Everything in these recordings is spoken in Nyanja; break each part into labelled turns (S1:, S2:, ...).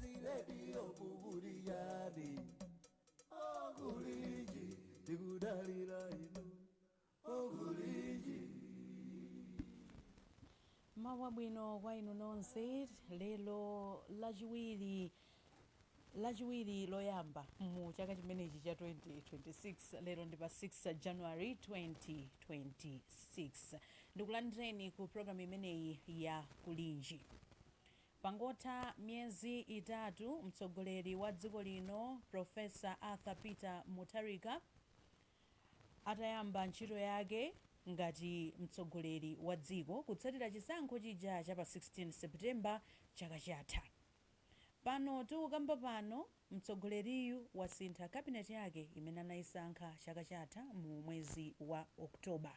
S1: ziredio kubuliyani Kulinji tikudalira inu
S2: Kulinji mawu abwino kwa inu nonse lero lachiwiri loyamba mu chaka chimenechi cha 2026 lero ndi pa 6 january 2026 ndikulandireni ku programu imeneyi ya kulinji Pangotha miyezi itatu mtsogoleri wa dziko lino Professor Arthur Peter Mutharika atayamba ntchito yake ngati mtsogoleri wa dziko kutsatira chisankho chija cha pa 16 September chaka chatha. Pano tikukamba pano mtsogoleriyu wasintha cabinet yake imene anayisankha chaka chatha mu mwezi wa October.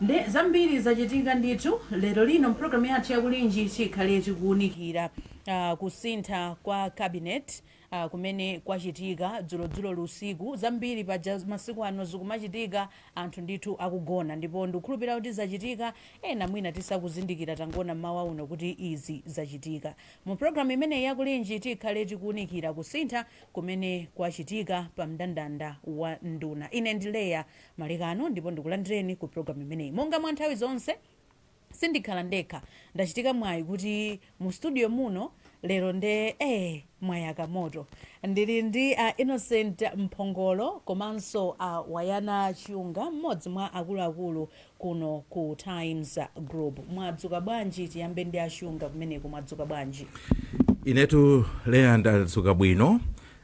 S2: Nde zambiri zachitika ndithu. Lero lino mpulogalamu yathu ya Kulinji tikhale tikuunikira kusintha kwa cabinet kumene kwachitika dzulodzuloli usiku. Zambiri paja masiku ano zikumachitika anthu ndithu akugona ndipo ndikukhulupirira kuti zachitika ena mwina tizakuzindikira tangoona mmawa uno kuti izi zachitika. Mu pulogalamu imeneyi ya Kulinji tikhale tikuunikira kusintha kumene kwachitika pa mndandanda wa nduna. Ine ndi Leah Malekano ndipo ndikulandireni ku program imeneyi. Monga mwa nthawi zonse, sindikhala ndekha. Ndachitika mwayi kuti mu studio muno lero nde ee mwayaka moto. Ndili ndi a Innocent Mphongolo komanso a Wanangwa Chiunga, mmodzi mwa akuluakulu kuno ku Times Group. Mwadzuka bwanji? Tiyambe ndi a Chiunga kumeneko, mwadzuka bwanji? Inetu
S3: Leah ndadzuka bwino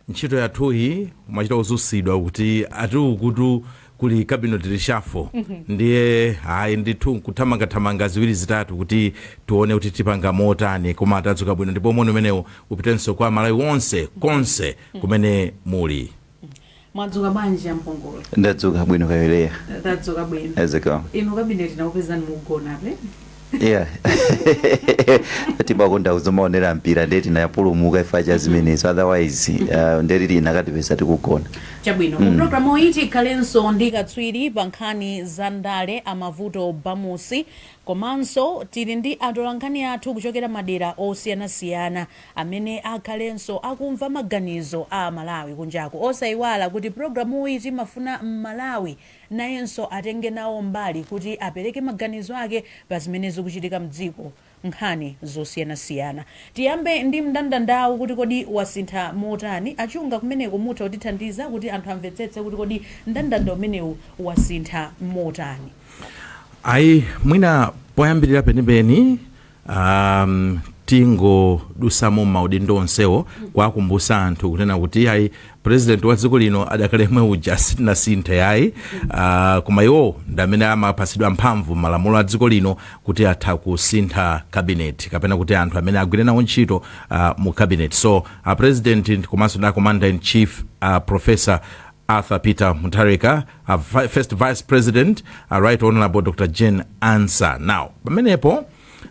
S3: ntchito yathuyi kumachita kudzutsidwa kuti ati ukutu kuli cabinet reshuffle ndiye ayi ndithu nkuthamangathamanga ziwiri zitatu kuti tione kuti tipanga motani koma tadzuka bwino ndipo moni umenewu upitenso kwa aMalawi onse konse kumene muli
S2: mwadzuka bwanji a Mphongolo ndadzuka bwino
S4: kaya a Leah tadzuka bwino
S2: eti kaya inu cabinet
S4: inakupezani
S2: mukugonabe
S4: yeah timakonda kudzamaonera mpira ndiye tinapulumuka chifukwa cha zimenezo otherwise uh, nde ikanatipeza tikugona chabwino mu
S2: programuyi tikhalenso ndi katswiri pa nkhani za ndale a Mavuto Bamusi komanso tili ndi atolankhani athu kuchokera madera osiyanasiyana amene akhalenso akumva maganizo a amalawi kunjaku osayiwala kuti programuyi timafuna mmalawi nayenso atenge nawo mbali kuti apereke maganizo ake pa zimene zikuchitika mdziko, nkhani zosiyanasiyana. Tiyambe ndi mndandandawu kuti kodi wasintha motani? A Chiunga kumeneko mutha kutithandiza kuti anthu amvetsetse kuti kodi mndandanda umenewu wasintha motani? Ayi,
S3: mwina poyambirira penipeni um, tingodutsamo m'maudindo onsewo kuwakumbusa anthu kunena kuti iyayi president wa dziko lino adakali yemwe uja sitinasinthe yayi uh, koma iwo ndi amene amapatsidwa mphamvu m'malamulo a dziko lino kuti atha kusintha kabineti kapena kuti anthu amene agwire nawo ntchito uh, mu kabineti so a president komanso ndi a commander in chief a professor Arthur Peter Mutharika, a vi- first vice president, a right honorable Dr. Jane Ansah. Now, pamenepo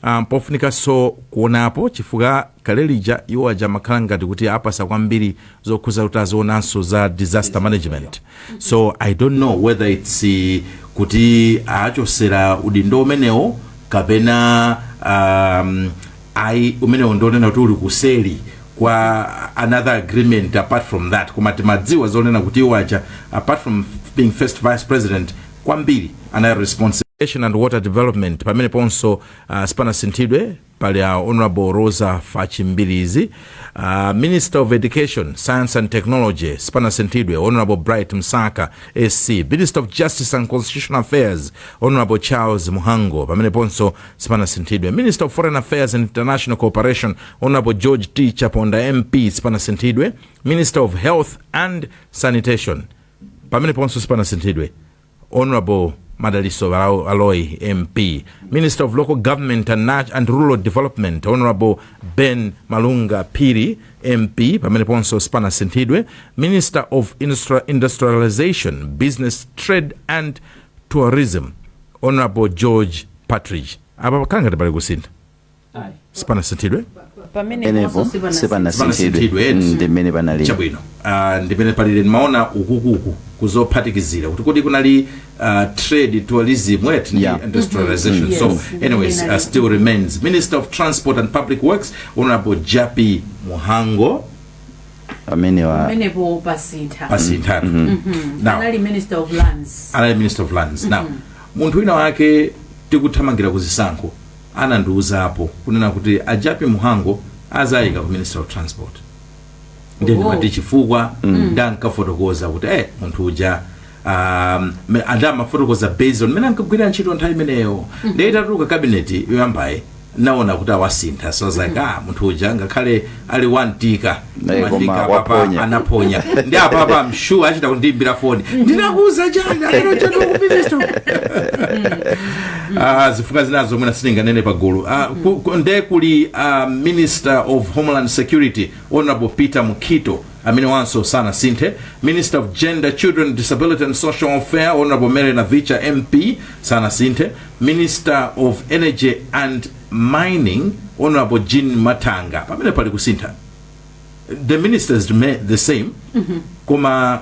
S3: um, pofunikanso kuonapo chifukwa kale lija iwo aja amakhala ngati kuti apatsa kwambiri zokhudza kuti azionanso za disaster management so i don't know whether its eh, kuti achotsera udindo umenewo kapena um, ayi umenewo ndi wonena kuti uli kuseri kwa another agreement apart from that koma timadziwa zonena kuti iwo aja apart from being first vice president kwambiri anali responsible Irrigation and water development pamene ponso uh, sipanasinthidwe pali a honorable roza fatch mbilizi uh, minister of education science and technology sipanasinthidwe honorable bright msaka sc minister of justice and constitutional affairs honorable charles mhango pamene ponso sipanasinthidwe minister of foreign affairs and international cooperation honorable george t chaponda mp sipanasinthidwe minister of health and sanitation pamene ponso sipanasinthidwe honorable madaliso Barao aloy mp minister of local government and, Nat- and rural development honorable ben malunga piri mp pamene ponso sipanasinthidwe minister of Industri- industrialization business trade and tourism Hon George Partridge apa pakhala ngati pali kusintha sipanasinthidwe
S4: pamenepo sipanasinthidwe ndi mmene panalili chabwino uh,
S3: ndi mmene palili ndimaona uku kukuzophatikizira kuti kodi kunali uh, trade tourism what ndi Yeah. industrialization Mhm. so Yes. anyways uh, still remains minister of transport and public works honorable jappie mhango amenewa
S2: pamenepo pasintha pasintha now
S3: anali minister
S2: of lands anali minister of lands now munthu wina wake tikuthamangira ku zisankho anandiuzapo kunena kuti a jappie mhango azawayika ku ministry of transport ndiye ndi Oh. mati chifukwa ndankafotokoza kuti eh munthu uja um, me- anda amafotokoza based on mmene ankagwirira ntchito nthawi imeneyo ndiye itatuluka kabineti yoyambayi ndaona kuti awasintha so I was like ah munthu uja ngakhale ali wantika Naye koma pafika apapa waponya. anaponya ndi apapa mshu achita kundiimbira foni ndinakuuza chani lero chani wakupivisto Ah, zifukwa zinazo zomwe sitinganene pagulu Ah, ku- ku- nde kuli ah, minister of homeland security honorable peter mukhito amene wanso sanasinthe minister of gender children disability and social welfare honorable mary navicha mp sanasinthe minister of energy and mining honorable jean matanga pamene pali kusintha the ministers remain the same koma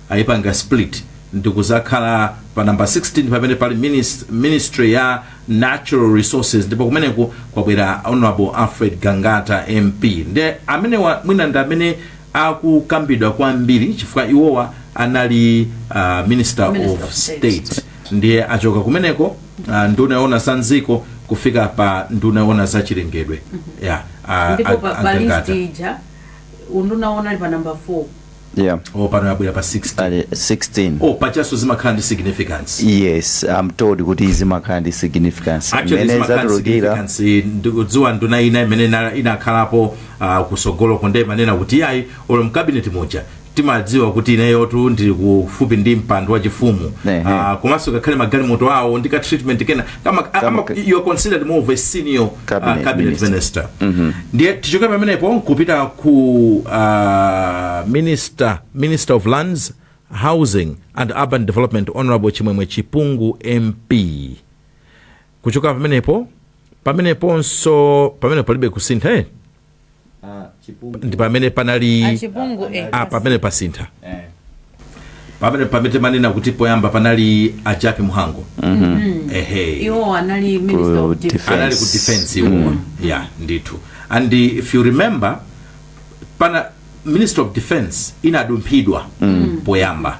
S3: ayipanga split ndikuzakhala pa number 16 pamene pali minis- ministry ya natural resources ndipo kumeneko kwabwera honorable alfred gangata mp nde amenewa mwina ndi amene akukambidwa kwambiri chifukwa iwowa anali uh, minister, Minister of of State. state ndiye achoka kumeneko uh, nduna yoona za m'dziko kufika pa nduna yoona za chilengedwe yeah, uh,
S2: ndipo pa, pa list ija unduna uwo unali pa number 4 yeah o pano yabwera pa
S3: 16 ali 16 o pajanso zimakhala ndi significance yes i'm
S4: told kuti zimakhala ndi significance actually Mmene zimakhala ndi zatulukira significance
S3: ndikudziwa nduna ina imene ina- inakhalapo ah, kusogoloko nde imanena kuti yayi olo mkabineti muja timadziwa kuti ineyotu ndili kufupi ndi mpando wachifumu Ehe. Ah, komanso ngakhale magalimoto awo ndi ka treatment kena Kama, ama, Kama- you are considered more of a senior uh, Cabinet cabinet minister, minister. ndiye tichoke pamenepo nkupita ku uh, minister, minister of lands housing and urban development honorable chimwemwe chipungu mp kuchoka pamenepo pameneponso pamenepo palibe kusintha eh? ndi pamene panali achipungu eh. ah, pamene pasintha pamene pamene mmanena kuti poyamba panali a Jappie Mhango ehe
S2: iwo anali minister of Defense. defense anali ku
S3: defense iwowa yeah ndithu and if you remember paja minister of defense inadumphidwa poyamba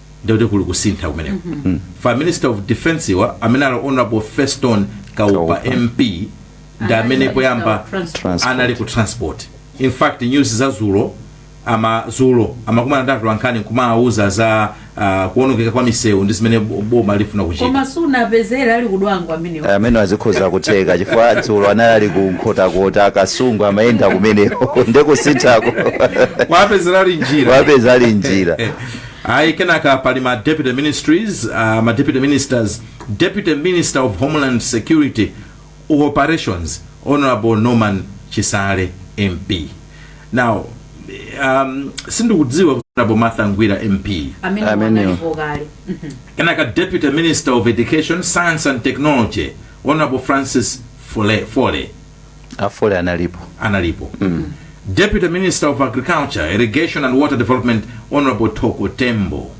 S3: ndiye kuli kusintha kumeneko chifukwa minister of defense wa amene ali honorable feston kaupa Kaupa. mp ndi amene poyamba Transport. anali ku transport in fact news za dzulo ama dzulo amakumana ndi atolankhani nkumawauza za ah, kuonongeka kwa misewu ndi zimene bo- boma lifuna kuchita koma
S2: zinapezera ali ku Dwangwa amenewo amene
S4: azikhoza kutheka chifukwa dzulo anali ali ku Nkhotakota Kasungu amayenda kumeneko ndikusinthako kwapezera
S3: ali njira wapeza ali njira ayi kenaka
S2: pali ma
S3: deputy ministries uh, ma deputy ministers deputy minister of homeland security operations honorable norman chisale mp now um, sindikudziwa kuti honorable martha ngwira mp amene Amene. analipo
S2: kale Mhm.
S3: kenaka deputy minister of education science and technology honorable francis fole, fole.
S4: afole analipo analipo
S3: deputy minister of agriculture irrigation and water development honorable Thoko Tembo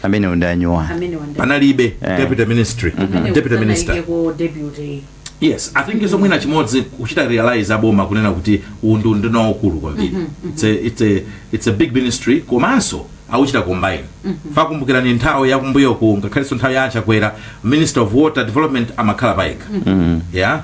S3: amene
S4: wandanyuwa amene wanda panalibe Eh.
S3: deputy ministry Amene deputy usana minister ike ku deputy yes i think nso mwina chimodzi kuchita realize aboma kunena kuti unduna ndi waukulu kwambiri it's a, it's a, it's a big ministry komanso akuchita combine chifukwa kumbukirani nthawi yakumbuyoku ngakhalenso nthawi ya achakwera minister of water development amakhala payekha yeah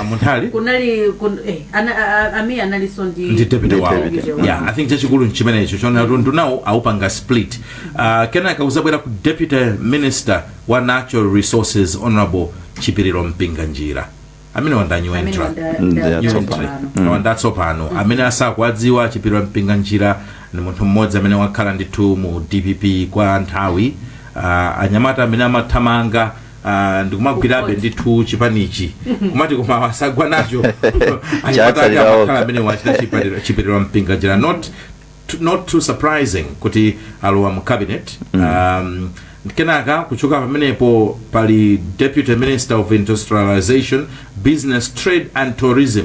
S3: amunthali kunali
S2: kun, eh, ana, a- a- Amia analinso ndi ndi deputy wawo deputy
S3: wawo. yeah i think chachikulu nchimenecho choona kuti unduna awupanga split uh, kenaka uzabwera ku deputy minister wa natural resources honorable chipiriro Mpinganjira amene wandanyuwa amene entra wanda- Mm, da- yeah, da- tsopano. pano. wandatsopano amene asakuwadziwa chipiriro Mpinganjira ndi munthu mmodzi amene wakhala ndithu mu dpp kwa nthawi uh, anyamata amene amathamanga Uh, ndikumagwirabe ndithu chipanichi kumati koma wasagwa nacho Chatsalira okha. amakhala amene wachita chipatiro- chipiriro Mpinganjira not t- not too surprising kuti alowa mu cabinet um, kenaka kuchoka pamenepo pali deputy minister of industrialization business trade and tourism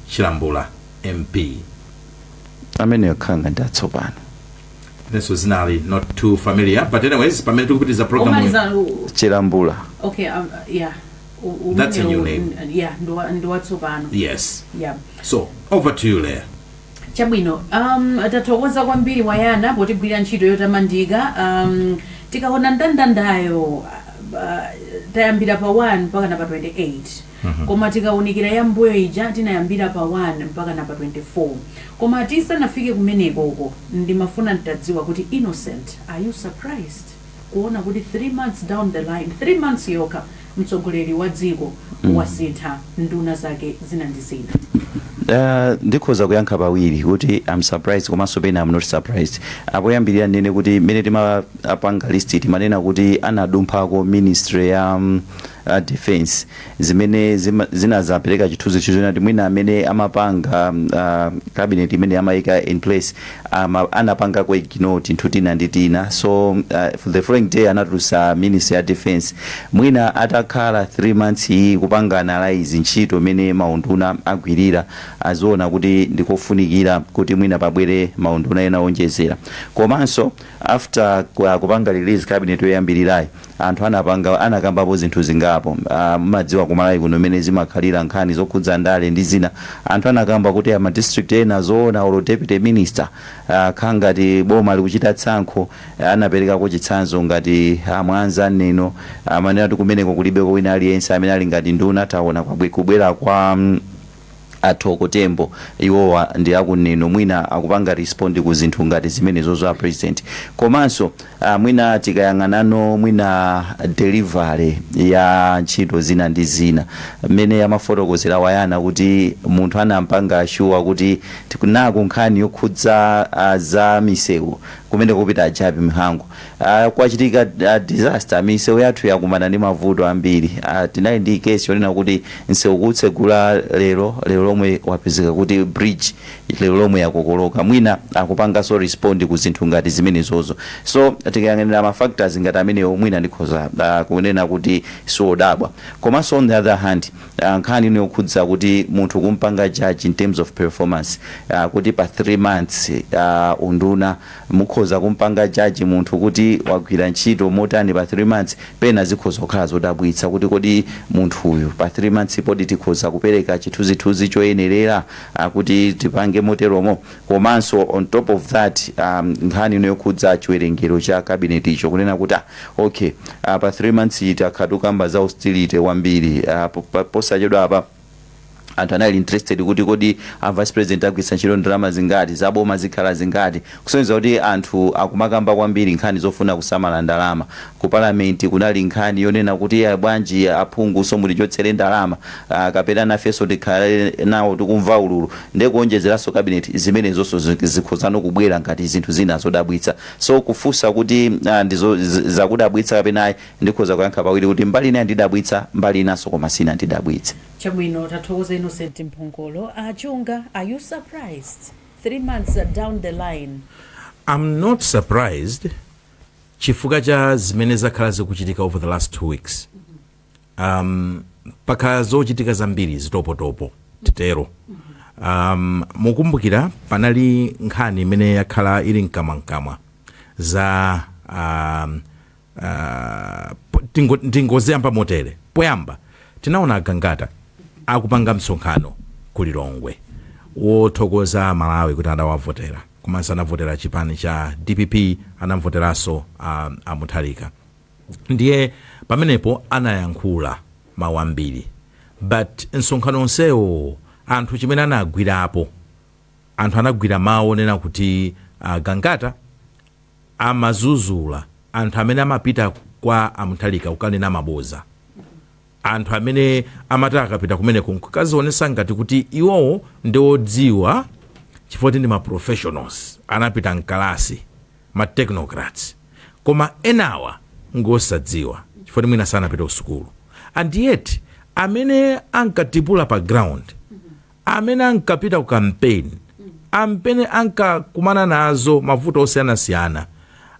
S3: Chilambula
S4: MP. Ameneyo akhala ngati ndi atsopano.
S3: Inenso dzinali not too familiar but anyways pamene tikupitiriza program yi. Omaliza u- Chilambula.
S2: okay um, yeah. U- umenewu That's a new
S3: name. n- yeah ndiwa-
S2: ndiwatsopano
S3: Yes. yeah
S2: So over
S3: to you Leah.
S2: chabwino um, tathokoza kwambiri a Yona potigwirira ntchito yotamandika um, tikaona ndandandayo uh, tayambira pa 1 mpakana pa 28 koma tikaunikira ya mmbuyo ija tinayambira pa 1 mpakana pa 24 koma tisanafike kumeneko uko ndimafuna ntadziwa kuti Innocent are you surprised kuona kuti 3 months down the line 3 months yokha mtsogoleri wa dziko wasintha nduna zake zina ndi zina
S4: Uh, ndikhoza kuyankha pawiri kuti I'm surprised komanso pena I'm not surprised poyambirira ndinene kuti mmene timapanga list timanena kuti anadumphako ministry ya um, a defense zimene zima- zinazapereka chithunzithunzi choona kuti mwina amene amapanga ah, cabinet imene amayika in place ama, anapanga ka ignore tinthu tina ndi tina so uh, for the following day anatulutsa ministry ya defense mwina atakhala 3 months iyi kupanga analyze ntchito imene maunduna agwirira aona kuti ndikofunikira kuti mwina pabwere maunduna ena onjezera komanso After kupanga release cabinet yoyambilirayi anthu anapanga anakambapo zinthu zingapo mmadziwa ku Malawi kuno mmene zimakhalira nkhani zokhudza ndale ndi zina anthu anakamba kuti a ma district ena zina olo deputy minister zikukhala ngati boma likuchita tsankho anaperekako chitsanzo ngati a Mwanza Neno amanena kuti kumeneko kulibeko wina aliyense amene ali ngati nduna taona kubwera kwa a Thoko Tembo iwowa ndi aku Neno mwina akupanga respond ku zinthu ngati zimenezozo a president komanso ah, mwina tikayang'anano mwina delivery ya ntchito zina ndi zina mmene amafotokozera a Yona kuti munthu anampanga shuwa kuti tiku- naku nkhani yokhudza ah, za misewu kumene kukupita a Jappie Mhango Aaa kwachitika a disaster misewu yathu yakumana ndi mavuto ambiri aah tinali ndi case yonena kuti msewu kuutsegula lero lero lomwe wapezeka kuti bridge lero lomwe yakokoloka mwina akupanganso respond ku zinthu ngati zimenezozo so tikayang'anira ma factors ngati amenewo mwina ndikhoza aah kunena kuti sindikudabwa komanso on the other hand aah nkhani ino yokhudza kuti munthu kumpanga judge in terms of performance aah kuti pa 3 months aah unduna Mukhoza kumpanga judge munthu kuti wagwira ntchito motani pa 3 months, pena zikhoza kukhala zodabwitsa kuti kodi munthuyu pa 3 months pokha tikhoza kupereka chithunzithunzi choyenerera kuti tipange moteromo? Komanso on top of that nkhani ino yokhudza chiwerengero cha cabinet cho kunena kuti ah okay pa 3 months iyi takhala tikukamba za austerity kwambiri posachedwapa, anthu anali interested kuti kodi a vice president agwiritsa ntchito ndalama zingati za boma zikhala zingati kusonyeza kuti anthu akumakamba kwambiri nkhani zofuna kusamala ndalama ku parliament kunali nkhani yonena kuti bwanji aphungunso mutichotsere ndalama ah, kapena nafenso tikhale nawo tikumva ululu nde kuonjezeranso cabinet zimenezonso zi- zikhozano kubwera ngati zinthu zina zodabwitsa so kufunsa kuti ah, ndizo z- zakudabwitsa kapena ayi Ndikhoza kuyankha pawiri kuti mbali ina yandidabwitsa mbali inanso koma sinandidabwitse. Chabwino tathokoza
S2: Innocent Mphongolo. A Chunga are you surprised? 3 months down the line. Am not
S3: surprised chifukwa cha zimene zakhala zikuchitika over the last two weeks. Um, pakhala zochitika zambiri zitopotopo titero. Um, mukumbukira panali nkhani imene yakhala ili mkamwamkamwa za um, ah, po- tingo- ndingoziyamba motere poyamba tinaona agangata akupanga msonkhano ku lilongwe wothokoza malawi kuti anawavotera komanso anavotera chipani cha dpp anavoteranso ah, amutharika ndiye pamenepo anayankhula mawu ambiri but msonkhano onsewo anthu chimene anagwirapo anthu anagwira mawu onena kuti agangata amazuzula anthu amene amapita kwa a Mutharika kukanena maboza. Anthu amene amati akapita kumeneko nkukazionesa ngati kuti iwowo ndi odziwa chifukwa kuti ndi ma professionals, anapita mkalasi, ma technocrats. Koma enawa ngosadziwa chifukwa kuti mwina sanapite kusukulu. And yet amene ankatipula pa ground, amene ankapita ku kampeni, amene ankakumana nazo mavuto osiyanasiyana,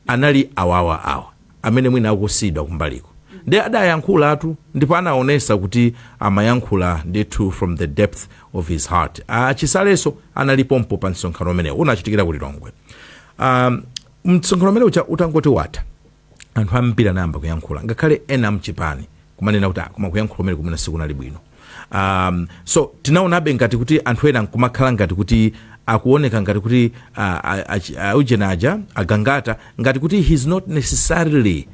S3: anali awawa awa amene mwina akusiyidwa kumbaliko. Ndiye adayankhulatu ndipo anaonesa kuti amayankhula ndithu from the depth of his heart. A Chisalenso anali pompo pa msonkhano umenewo. Unachitikira ku Lilongwe. Ahm, msonkhano umene uja utangoti watha, anthu ambiri anayamba kuyankhula ngakhale ena amchipani kumanena kuti "Ah, koma kuyankhula kumene kumene sikunali bwino um, so tinaonabe ngati kuti anthu ena nkumakhala ngati kuti akuoneka ngati kuti ah, ah, achi- ah, ujeni aja agangata ngati kuti he's not necessarily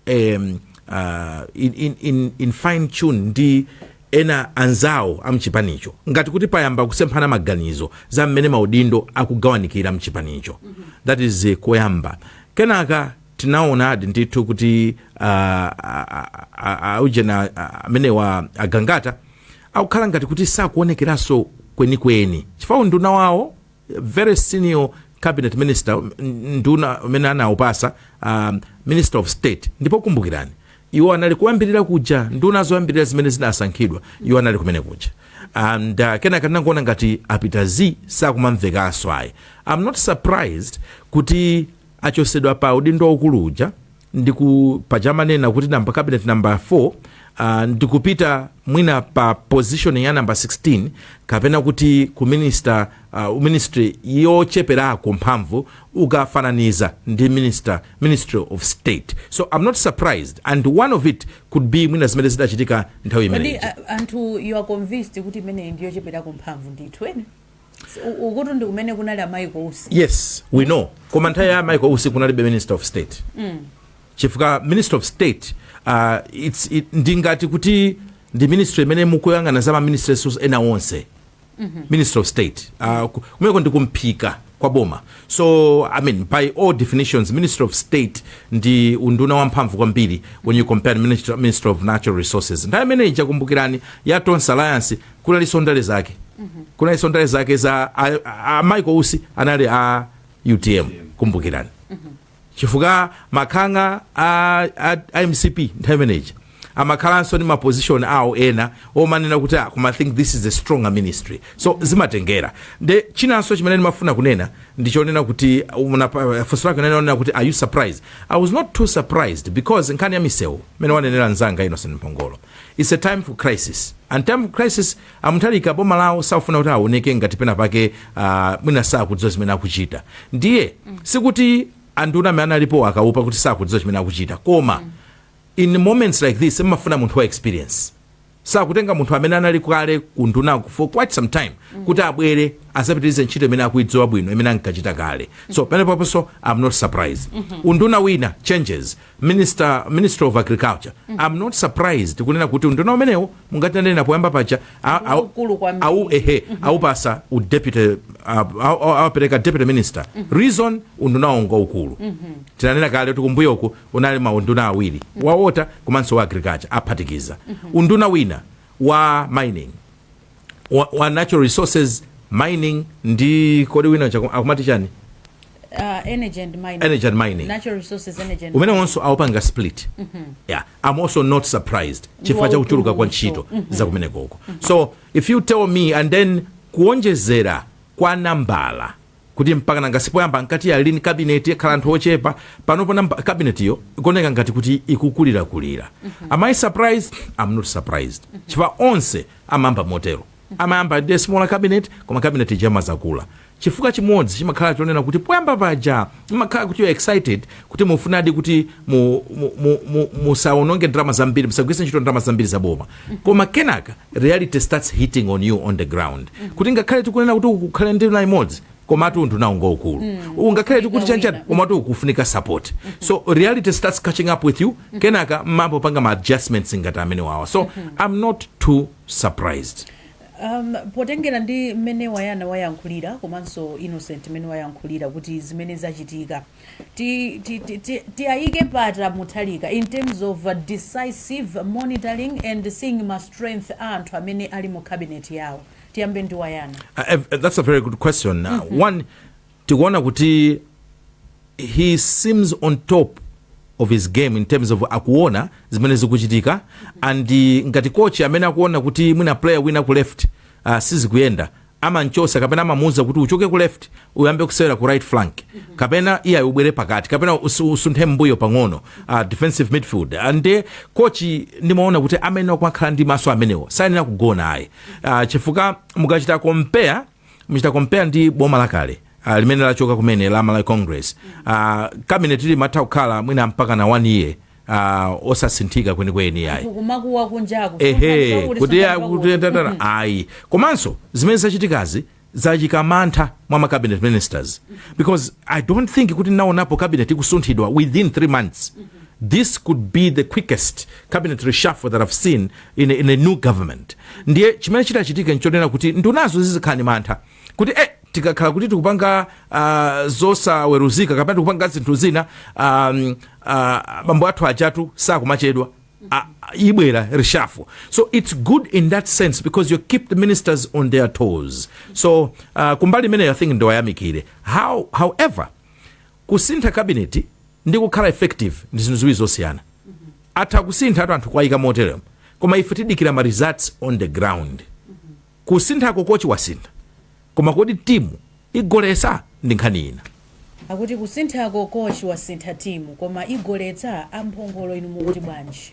S3: um, uh, in, in, in, in fine tune ndi ena anzawo a mchipanicho ngati kuti payamba kusemphana maganizo za mmene maudindo akugawanikira mchipanicho that is koyamba kenaka tinaonadi ndithu kuti uh, aujeni amenewa agangata akukhala ngati kuti sakuonekeranso kwenikweni chifukwa unduna wawo very senior cabinet minister nduna amene anawapatsa um, minister of state ndipo kumbukirani iwo anali kuyambirira kuja nduna zoyambirira zimene zinasankhidwa iwo anali kumene kuja and uh, kenaka tinangoona ngati apita zii sakumamvekanso ayi i'm not surprised kuti achotsedwa pa udindo waukulu uja ndipo paja amanena kuti namba cabinet namba 4 uh, ndikupita mwina pa position ya namba 16 kapena kuti ku minister uh, ministry yocheperako mphamvu ukafananiza ndi minister ministry of state so i'm not surprised and one of it could be mwina zimene zidachitika nthawi kodi imeneyi a- Anthony you are
S2: convinced kuti imeneyi ndi yocheperako mphamvu ndithu eni ukutu ndi kumene kunali a michael usi yes we
S3: know koma nthawi ya michael usi kunalibe ministry of state mm. chifukwa ministry of state uh, it's, it, ndingati kuti ndi ministry imene mukuyang'ana za maministries ena onse mm-hmm. ministry of state uh, ku- kumeko ndi kumphika kwa boma so i mean by all definitions ministry of state ndi unduna wamphamvu kwambiri when you compare minister, ministry of natural resources nthawi imene ija kumbukirani ya tonse alliance kunalinso ndale zake kunalinso ndale zake za a- a- a michael usi anali a utm kumbukirani chifukwa nanga a, a, a mcp nthawi imene ija amakhalanso ndi maposition awo ena omanena kuti ah, koma I think this is a strong ministry so zimatengera nde chinanso chimene ndimafuna kunena ndichonena kuti unapa- funso lake lonena kuti are you surprised i was not too surprised because nkhani ya misewu imene wanenera nzanga innocent mphongolo Its a time for crisis and time for crisis a Mutharika boma lawo sakufuna kuti awoneke ngati pena pake ah, mwina sakudziwa zimene akuchita ndiye sikuti anduna amene analipo akaleo apa kuti sakudziwa chimene akuchita koma in moments like this mmafuna munthu wa experience so akutenga munthu amene anali kale kunduna for quite some time kuti abwere azapitirize ntchito imene akuidziwa bwino imene ankachita kale so pamenepoponso am not surprised unduna wina changes Minister, Ministry of Agriculture mm -hmm. I'm not surprised kunena kuti unduna umenewo monga tinanena poyamba paja au ehe mm -hmm. aupatsa u deputy awapereka uh, deputy minister mm -hmm. reason unduna wo ngwaukulu mm -hmm. tinanena kale kuti kumbuyo uku unali maunduna awiri mm -hmm. wa water komanso wa agriculture aphatikiza mm -hmm. unduna wina wa mining wa, wa natural resources mining ndi kodi wina uja akumati chani uh,
S2: energy and mining energy and mining natural resources energy and umenewonso awupanga split
S3: yeah i'm also not surprised chifukwa cha kuchuluka kwa ntchito za kumenekoko so if you tell me and then kuonjezera kwa nambala kuti mpaka nanga sipoyamba ankati lean cabinet ikhala anthu ochepa panopo namba cabinet yo ikuoneka ngati kuti ikukulirakulira am i surprised i'm not surprised chifukwa onse amayamba motero. Amayamba ndi a smaller cabinet koma cabinet ija imadzakula. Chifukwa chimodzi chimakhala chonena kuti poyamba paja mumakhala kuti you are excited kuti mufunadi kuti mu, mu, mu, mu, musawononge ndalama zambiri, musagwiritse ntchito ndalama zambiri za boma. Koma kenaka reality starts hitting on you on the ground. Kuti ngakhale tikunena kuti uku kukhale nduna imodzi, komatu undunawu ngwaukulu uwu, ngakhale tikuti chanichani komatu ukufunika support so reality starts catching up with you kenaka mmayamba kupanga ma adjustments ngati amene wawa so i'm not too surprised um,
S2: potengera ndi mmene wayana wayankhulira komanso innocent mmene wayankhulira kuti zimene zachitika ti- ti- ti- ti- tiwayike pati Mutharika in terms of uh, decisive monitoring and seeing ma strength a anthu amene ali mu cabinet yawo tiyambe ndi wayana Uh, ev- uh, that's a
S3: very good question. Uh, One, tikuona kuti, he seems on top of his game in terms of akuona zimene zikuchitika and uh, ngati coach amene akuona kuti mwina player wina ku left uh, sizikuyenda amanchosa kapena amamuuza kuti uchoke ku left uyambe kusewera ku right flank kapena iyayi ubwere pakati kapena usu- usunthe mbuyo pang'ono uh, defensive midfield Ah, nde kochi ndimaona kuti amene akumakhala ndi maso amenewo sayenera kugona ayi uh, chifukwa mukachita compare mukachita compare ndi boma lakale uh, limene lachoka kumene la malawi congress uh, cabinet limatha kukhala mwina mpaka na one year uh, osasinthika kwenikweni yayi kukumakuwa kunjaku
S2: ehe kuti ya-
S3: kuti tatara ayi komanso zimene zachitikazi zayika mantha mwa ma cabinet ministers because i don't think kuti ndinaonapo cabinet ikusunthidwa within three months this could be the quickest cabinet reshuffle that i've seen in a, in a new government ndiye chimene chitachitike nchonena kuti ndunazo zizikhala ndi mantha kuti eh, tikakhala kuti tikupanga uh, zosaweruzika kapena tikupanga zinthu zina um, uh, bambo athu ajatu sakumachedwa uh, ibwera reshuffle so it's good in that sense because you keep the ministers on their toes so uh, kumbali imeneyo i think ndiwayamikire how however kusintha kabineti ndi kukhala effective ndi zinthu ziwiri zosiyana atha kusinthadi anthu kuwayika moteremo koma ife tidikira ma results on the ground Kusinthako kochi wasintha koma kodi timu igoletsa? Ndi nkhani ina.
S2: Akuti kusinthako kochi wasintha timu koma igoletsa? A Mphongolo inu mukuti bwanji?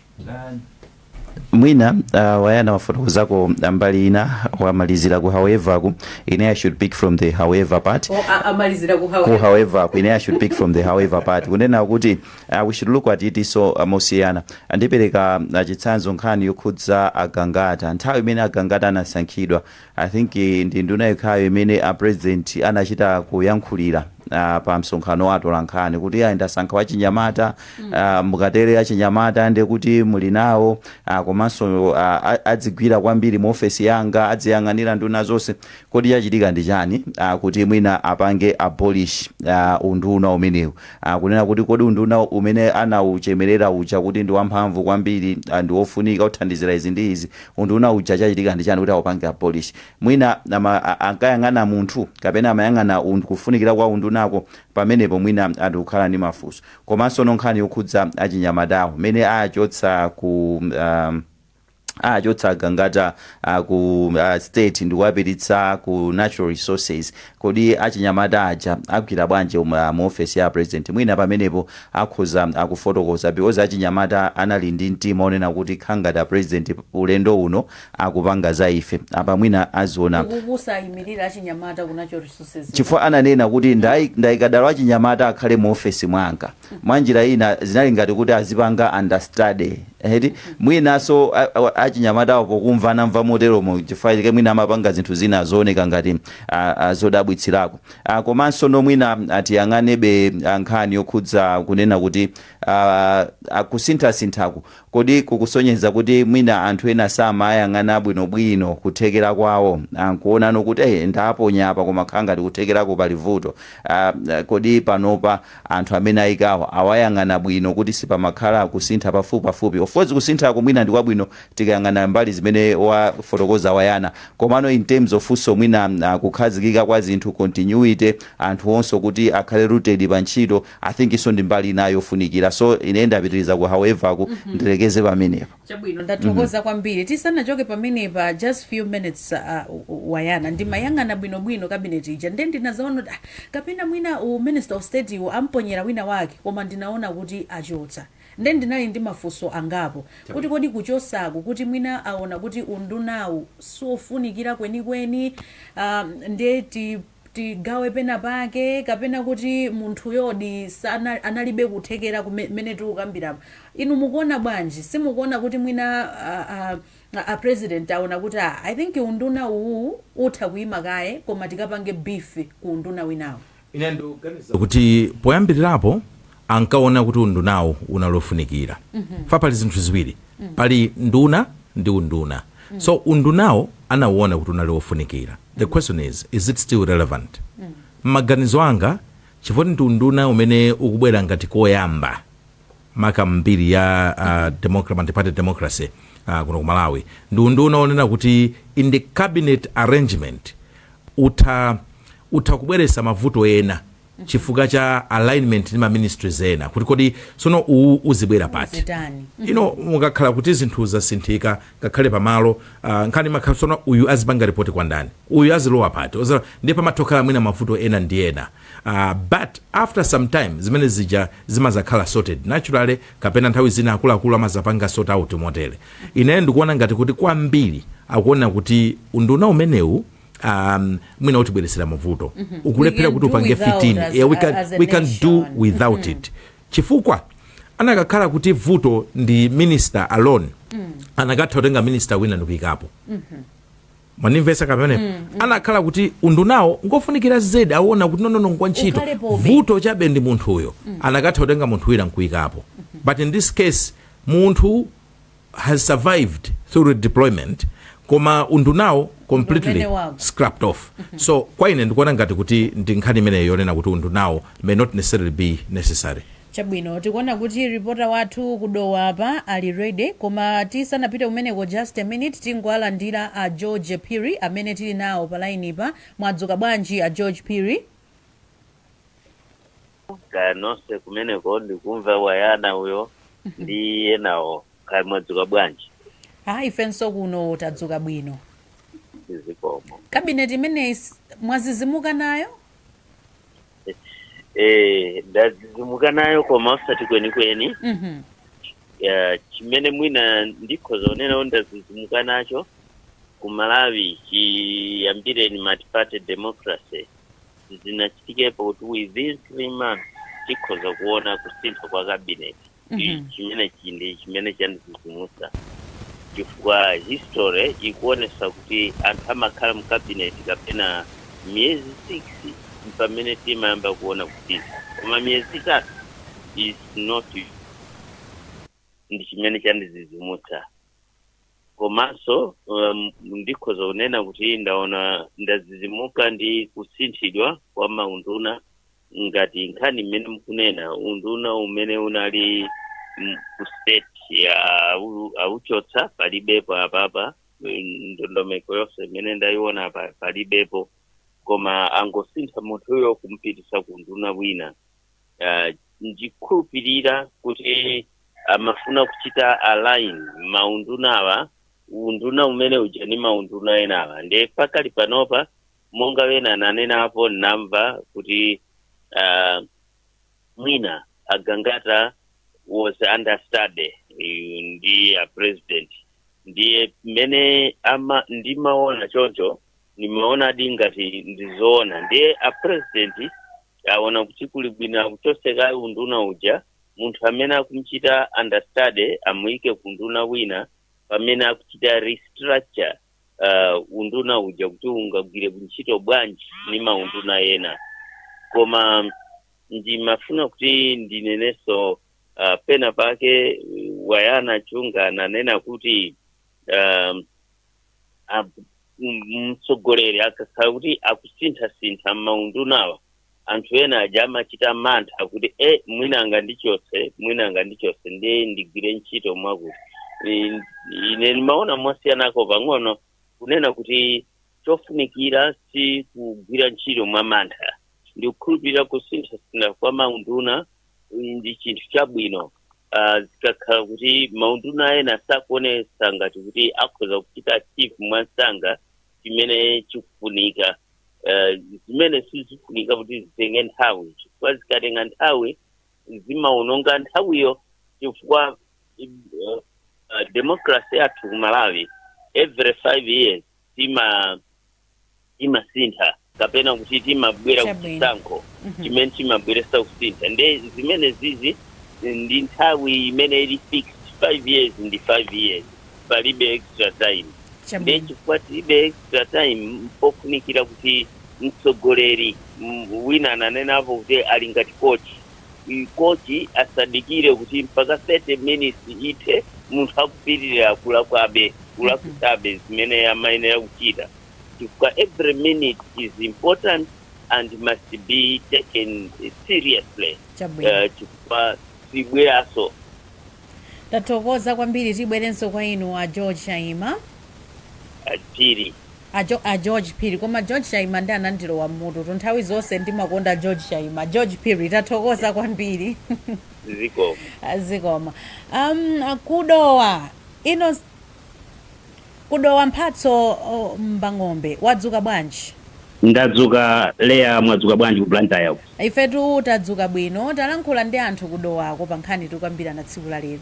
S4: Mwina uh, wayana wafotokozako mbali ina wamalizira ku however ku ine I should pick from the however part Oh, a- amalizira ku
S2: ku however. however ku ine I should
S4: pick from the however part kunena kuti Uh, we should look at it so uh, mosiyana ndipereka uh, chitsanzo nkhani yokhudza agangata nthawi imene agangata anasankhidwa i think eh, ndi nduna yokhayo imene a president anachita kuyankhulira Uh, pa msonkhano wa atolankhani kuti ayi ndasankha wachinyamata uh, mukatere achinyamata ndi kuti muli nawo uh, komanso uh, a- adzigwira kwambiri mu ofesi yanga adziyang'anira nduna zonse kodi chachitika ndi chani uh, kuti mwina apange abolish uh, unduna umenewu Kunena kuti kodi unduna umene anauchemerera uja kuti ndi wamphamvu kwambiri ah, ndi wofunika uthandizira izi ndi izi, unduna uja chachitika ndi chani kuti aupange abolish? Mwina ama, a, ankayang'ana munthu kapena amayang'ana und, kufunikira kwa undunako? Pamenepo mwina ah, ndikukhala ndi mafunso. Komanso no nkhani yokhudza achinyamatawo, mmene aachotsa ku ah, achotsa agangata ku state ndi kuwapititsa ku natural resources kodi achinyamata aja agwira bwanji um, ah, mu ofesi ya a president mwina pamenepo akhoza akufotokoza because achinyamata anali ndi mtima onena kuti kukhala ngati a president ulendo uno akupanga za ife apa mwina aziona kukuza ayimirira
S2: achinyamata ku natural resources chifukwa ananena kuti
S4: ndai- ndaika dala achinyamata akhale mu ofesi mwanga mwanjira ina zinali ngati kuti azipanga understudy eti mwinanso a- a- achinyamatawo pokumva anamva moteromo chifukwa chake mwina amapanga zinthu zina zooneka ngati ah, ah, zodabwitsirako Ah, komanso no mwina atiyang'anebe ah, nkhani yokhudza kunena kuti ah, ah, kusinthasinthaku Kodi kukusonyeza kuti mwina anthu ena samayang'ana bwinobwino kuthekera kwawo? Nkuona no kuti eh ndaponya apa koma kukhala ngati kuthekerako pali vuto. Aah kodi panopa anthu amene ayikawo awayang'ana bwino kuti sipamakhala kusintha pafupipafupi? Of course kusinthako mwina ndi kwabwino tikayang'ana mbali zimene wafotokoza Wayana. Komano in terms of nso mwina kukhazikika kwa zinthu, continuity, anthuwonso kuti akhale rooted pa ntchito. I think iyonso ndi mbali inayo yofunikira so ine ndapitiriza ku however ku ndilekeze pamenepo. chabwino
S2: ndathokoza kwambiri tisanachoke pamenepa just few minutes uh, wayana ndimayang'ana bwinobwino cabinet ija nde ndinazaona kuti ah, kapena mwina u minister of state iwo amponyera wina wake koma ndinaona kuti achotsa nde ndinali ndi mafunso angapo kuti kodi kuchotsako kuti mwina aona kuti undunawu siofunikira kwenikweni um, nde ti tigawe pena pake kapena kuti munthuyodi sana, analibe kuthekera kumene tikukambira apa. Inu mukuona bwanji? Simukuona kuti mwina a, a, a- a president aona kuti a, I think unduna uwu utha kuima kaye koma tikapange beef ku unduna winawo. ine ndikuganiza
S3: kuti poyambirirapo ankaona kuti undunawo unali ofunikira fa pali zinthu ziwiri pali nduna ndi unduna so undunawo anauona kuti unali ofunikira the question is, is it still relevant? Mmaganizo anga chifukwa ndi unduna umene ukubwera ngati koyamba maka mbiri ya uh, democ- multiparty democracy uh, kuno ku Malawi ndi unduna onena kuti in the cabinet arrangement utha, utha kubweresa mavuto ena chifukwa cha alignment ndi ma ministries ena kuti kodi sono uwu uzibwera pati zitani you know mukakhala kuti zinthu zasinthika ngakhale pamalo uh, nkhani imakhala sono uyu azipanga ripoti kwa ndani uyu azilowa pati Oza- ndiye pamatokhala mwina mavuto ena ndi ena uh, but after some time zimene zija zimazakhala sorted naturally kapena nthawi zina akuluakulu amazapanga sort out motere ineyo ndikuona ngati kuti kwambiri akuona kuti unduna umenewu um, mwina utibweretsera mavuto mm -hmm. ukulephera kuti upange fit in yeah, we can, we can do without mm -hmm. it chifukwa anakakhala kuti vuto ndi minister alone mm. anakatha kutenga minister wina ndikuyikapo mm -hmm mwandimvesa kapena mm, mm. anakhala kuti undunawo ngofunikira zedi awona kuti nonono ngwa ntchito vuto chabe ndi munthuyo mm. anakatha kutenga munthu wina nkuyikapo mm -hmm. but in this case munthu has survived through redeployment koma undunawo completely Ndumene wako. scrapped off so kwa ine ndikuona ngati kuti ndi nkhani imeneyo yonena kuti undunawo may not necessarily be necessary chabwino tikuona
S2: kuti ripota wathu ku Dowa apa ali ready koma tisanapite kumeneko just a minute tingowalandira a George Phiri amene tili nawo pa lainipa mwadzuka bwanji a George Phiri
S1: kaya nonse kumeneko ndikumva wayana uyo ndi enawo kaya mwadzuka bwanji hayi ifenso
S2: kuno tadzuka bwino
S1: zikomo kabineti imeneyi
S2: s- mwazizimuka nayo
S1: eh ndazizimuka nayo koma osati kwenikweni Mhm. ya chimene mwina ndikhoza kunena ndazizimuka nacho ku Malawi chiyambireni multiparty democracy sizinachitikepo kuti within three months tikhoza kuona kusintha kwa cabinet Mhm. chimene chindi chimene chandizizimusa chifukwa history ikuonesa kuti anthu amakhala mu cabinet kapena miyezi six mpamene timayamba kuona kusintha koma miyezi itatu is not ndi chimene chandizizimutsa komanso um, ndikhoza kunena kuti ndaona ndazizimuka ndi kusinthidwa kwa maunduna ngati nkhani imene mukunena unduna umene unali mm, ku state ya au- auchotsa palibepo apapa mm, ndondomeko yonse imene ndayiona apa palibepo koma angosintha munthuyo kumpitisa ku unduna wina uh, ndikhulupirira kuti amafuna kuchita align maundunawa unduna umene uja ni maunduna enawa nde pakali panopa monga wina ananenapo namva kuti uh, mwina agangata was understudy ndi a president ndiye mmene ndimaona choncho ndimaonadi ngati ndizoona ndiye a president aona kuti kuli bwino akuchose kaye unduna uja munthu amene akumchita understudy amuyike ku unduna wina pamene akuchita restructure uh, unduna uja kuti ungagwire ntchito bwanji ni maunduna ena koma ndimafuna kuti ndinenenso uh, pena pake uh, a Wayana Chunga ananena kuti um, a- m- mtsogoleri akakhala kuti akusinthasintha m'maundunawa anthu ena aja amachita mantha kuti e mwina angandichotse mwina angandichotse ndiye ndigwire ntchito mwakuti I- ine ndimaona mwasiyanako pang'ono kunena kuti chofunikira si kugwira ntchito mwa mantha ndikukhulupirira kusinthasintha kwa maunduna ndi chinthu chabwino Ah, zikakhala kuti maunduna ena sakuonesa ngati kuti akhoza kuchita achieve mwansanga chimene chikufunika Ah, zimene sizifunika kuti zitenge nthawi chifukwa zikatenga nthawi zimaononga nthawiyo chifukwa eh, ah, democracy yathu ku Malawi every five years tima timasintha kapena kuti timabwera Chabwino. kuchisankho Mhm. chimene chimabweresa kusintha nde zimenezizi ndi nthawi imene ili fixed 5 years ndi 5 years palibe extra time nde chifukwa tilibe extra time mpofunikira kuti mtsogoleri m- wina ananenapo kuti ali ngati kochi kochi asadikire kuti mpaka 30 minutes ithe munthu akupitirira kulakwabe, kulakwitsabe zimene amayenera kuchita chifukwa every minute is important and must be taken seriously Chabwino. eh, chifukwa
S2: sibweranso. Tathokoza kwambiri tibwerenso kwa inu a George Chaima.
S1: Phiri. A jo
S2: a George Phiri koma George Chaima nde anandilowa mmututu nthawi zonse ndimakonda George Chaima George Phiri tathokoza kwambiri zikomo Ah, zikomo um, ku Dowa ino ku Dowa Mphatso oh, Mbang'ombe wadzuka bwanji
S5: ndadzuka Leya mwadzuka bwanji ku Blantyre uko ifetu tadzuka
S2: bwino talankhula ndi anthu ku Dowako pa nkhani tikukambirana tsiku la lero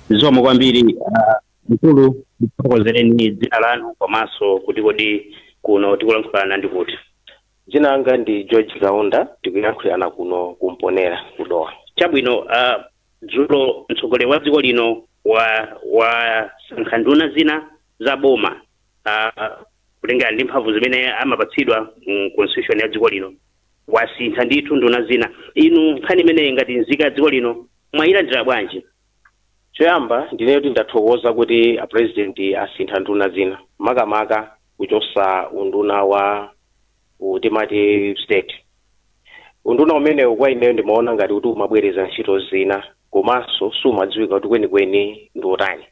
S2: zikomo kwambiri
S5: ah, Mkulu, mutifotokozereni dzina lanu komanso kuti kodi kuno tikulankhulana ndi kuti? Dzina
S6: langa ndi George Kaunda, tikuyankhulirana kuno ku Mponela ku Dowa. Chabwino, a
S5: dzulo mtsogoleri wa dziko lino a wasankha nduna zina za boma a kutengera ndi mphamvu zimene amapatsidwa mu constitution ya dziko lino, wasintha ndithu nduna zina. Inu nkhani imeneyi ngati nzika ya dziko lino mwayilandira bwanji?
S6: Choyamba ndinene kuti ndathokoza kuti a president asintha nduna zina makamaka kuchosa unduna wa uwu timati state. Unduna umenewu kwa ineyo ndimaona ngati kuti umabwereza ntchito zina komanso sumadziwika kuti kwenikweni ndi wotani.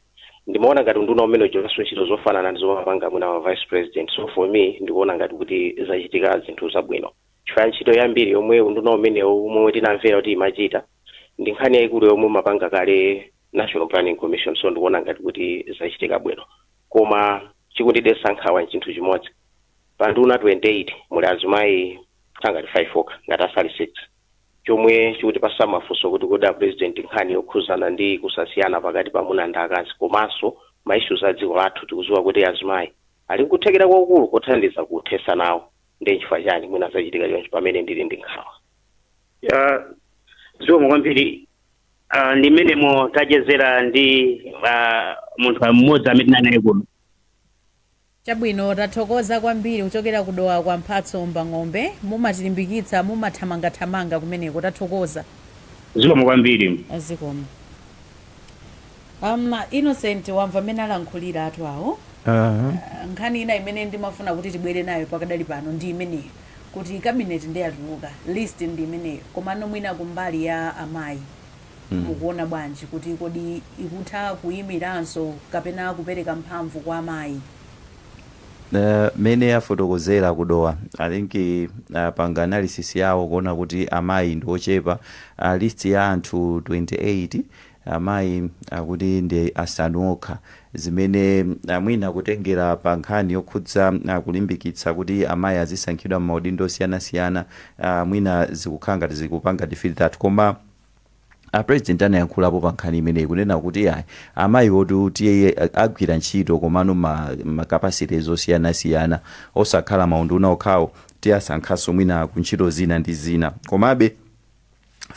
S6: Ndimaona ngati unduna umene uchitanso ntchito zofanana ndi zomapanga mwina a vice president. So for me ndikuona ngati kuti zachitika zinthu zabwino. Chifukwa ntchito yambiri yomwe unduna umenewu momwe tinamvera kuti imachita ndi nkhani yaikulu yomwe umapanga kale National Planning Commission so ndikuona ngati kuti zachitika bwino. Koma chikundidetsa nkhawa n'chinthu chimodzi. Pa nduna 28 muli azimayi ngati 5 okha ngati sali 6 chomwe chikutipatsa mafunso kuti kodi a Pulezidenti nkhani yokhudzana ndi kusasiyana pakati pa amuna ndi akazi komanso ma issues a dziko lathu tikudziwa kuti azimayi ali n'kuthekera kwakukulu kothandiza kuthetsa nawo. ndiye nchifukwa chani mwina zachitika choncho pamene ndili ndi nkhawa
S5: Ah, zikomo kwambiri Ah, ndi mmenemo tachezera ndi ah, munthu mmodzi amene ndinali naye kuno
S2: chabwino tathokoza kwambiri kuchokera ku Dowa kwa Mphatso Mbang'ombe mumatilimbikitsa mumathamangathamanga kumeneko tathokoza zikomo
S5: kwambiri zikomo
S2: Am Innocent wamva mmene alankhulira anzathu awo. Aaa nkhani ina imene ndimafuna kuti tibwere nayo pakadali pano ndi imeneyo kuti cabinet nde yatuluka list ndi imeneyo komano mwina kumbali ya amayi mukuona bwanji kuti kodi ikutha kuyimiranso kapena kupereka mphamvu kwa amayi?
S4: Eh, mene afotokozera ku Dowa I think apanga analysis yawo kuona kuti amayi ndi ochepa uh, list ya anthu 28 Amayi akuti ndi asanu okha, zimene mwina kutengera pa nkhani yokhudza kulimbikitsa kuti amayi azisankhidwa m'maudindo osiyanasiyana, mwina zikukhala ngati zikupanga defeat that. Koma a president anayankhulapo pa nkhani imeneyi kunena kuti yayi, amayiwotu tiwaagwiritsa ntchito komano m'ma capacities osiyanasiyana, osakhala maunduna okhawo, tiwasankhanso mwina ku ntchito zina ndi zina. Komabe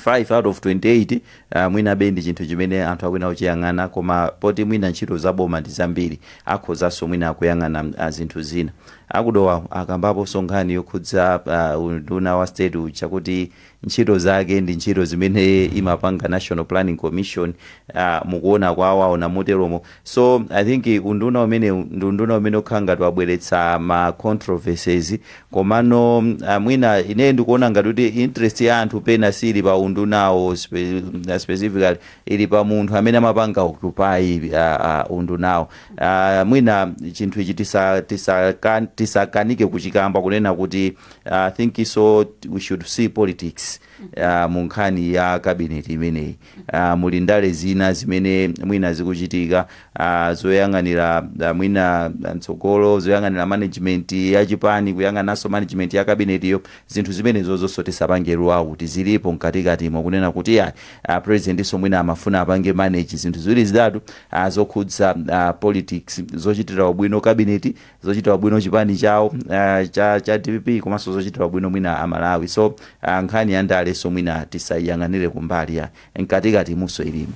S4: 5 out of 28 uh, mwinabe ndi chinthu chimene anthu akuyenera kuchiyang'ana koma poti mwina ntchito za boma ndi zambiri akhozanso mwina akuyang'ana uh, zinthu zina a ku Dowawo akambaponso nkhani yokhudza uh, unduna wa state uja kuti ntchito zake ndi ntchito zimene imapanga national planning commission uh, mukuona kwawo aona moteromo So I think unduna umenewu ndi unduna umene ukhala ngati wabweretsa ma controversies komano ah, mwina ine ndikuona ngati kuti interest ya anthu pena siili pa undunawo spe, ah, specifically ili pa munthu amene amapanga occupy ah, ah, undunawo ah, mwina chinthu ichi tisa- tisaka- tisakanike kuchikamba kunena kuti ah, I think so we should see politics ah, mu nkhani ya cabinet imeneyi a, muli ndale zina zimene mwina zikuchitika, a, zoyang'anira a, mwina a, mtsogolo, zoyang'anira management ya chipani, kuyang'ananso management ya kabinetiyo, zinthu zimenezonso tisapange rule out, zilipo mkatikatimo kunena kuti iyayi, a, presidentnso mwina amafuna apange manage zinthu ziwiri zitatu a, zokhudza a, politics, zochitira ubwino kabineti, zochitira ubwino chipani chawo ah, cha, cha dpp komanso zochitira ubwino mwina amalawi so ah, nkhani ya ndalenso mwina tisayiyang'anire kumbali mkatikatimunso ilimo